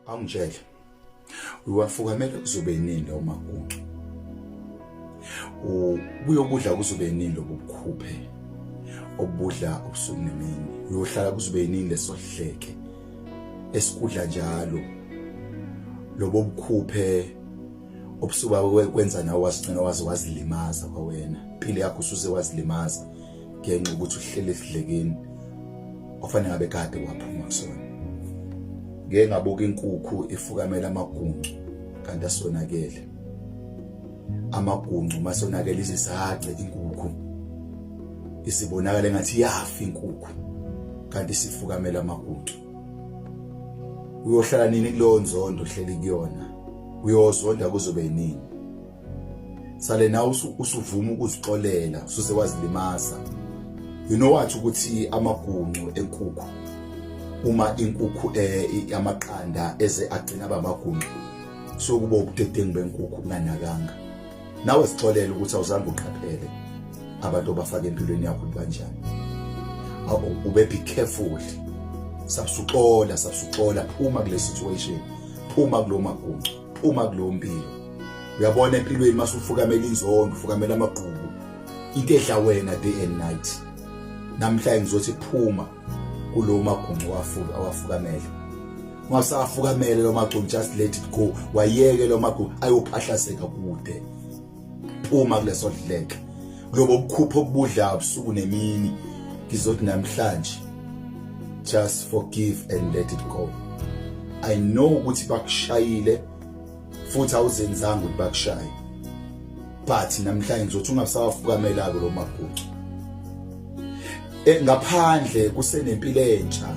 Awungitshele. Uyiwafukamela kuzobe nini lo makuncu? Ubuyokudla kuzobe nini lobo bukhuphe? Obudla ubusuku nemini. Uyohlala kuzobe nini lesohleke? Esikudla njalo. Lobo bukhuphe obusuba kwenza nawe wasigcina waze wazilimaza kwawena. Impilo yakho usuze wazilimaza. ngenxa ukuthi uhlele esidlekeni ofanele ngabe kade waphuma kusona ngeke ngabuka inkukhu ifukamela amaguncu kanti asonakele amaguncu masonakele izisace inkukhu isibonakala engathi yafa inkukhu kanti sifukamela amaguncu uyohlala nini kuleyo nzondo hleli kuyona uyozonda kuzobe yini sale nawe usuvuma ukuzixolela ususe wazilimaza you know what ukuthi amaguncu enkukhu uma inkukhu eh, yamaqanda eze agcina bamaguncu so kuba ubudedengu benkukhu unganakanga nawe sixolela ukuthi awuzange uqaphele abantu obafaka empilweni yakho kanjani ube be careful sabsuxola sabsuxola phuma kule situation phuma kulomaguncu phuma kuleyo mpilo uyabona empilweni masufukamela inzondo ufukamela amagqubu into edla wena day and night namhlanje ngizothi phuma kulowo maguncu wafuka awafukamele ungasafukamele lo maguncu just let it go wayeke lo maguncu ayophahlazeka kude phuma kuleso dleke lobo bukhupho obudla ubusuku nemini ngizothi namhlanje just forgive and let it go i know ukuthi bakushayile futhi awuzenzanga ukuthi bakushaye but namhlanje ngizothi ungasawafukamelako lo magucu eh, ngaphandle kusenempilo entsha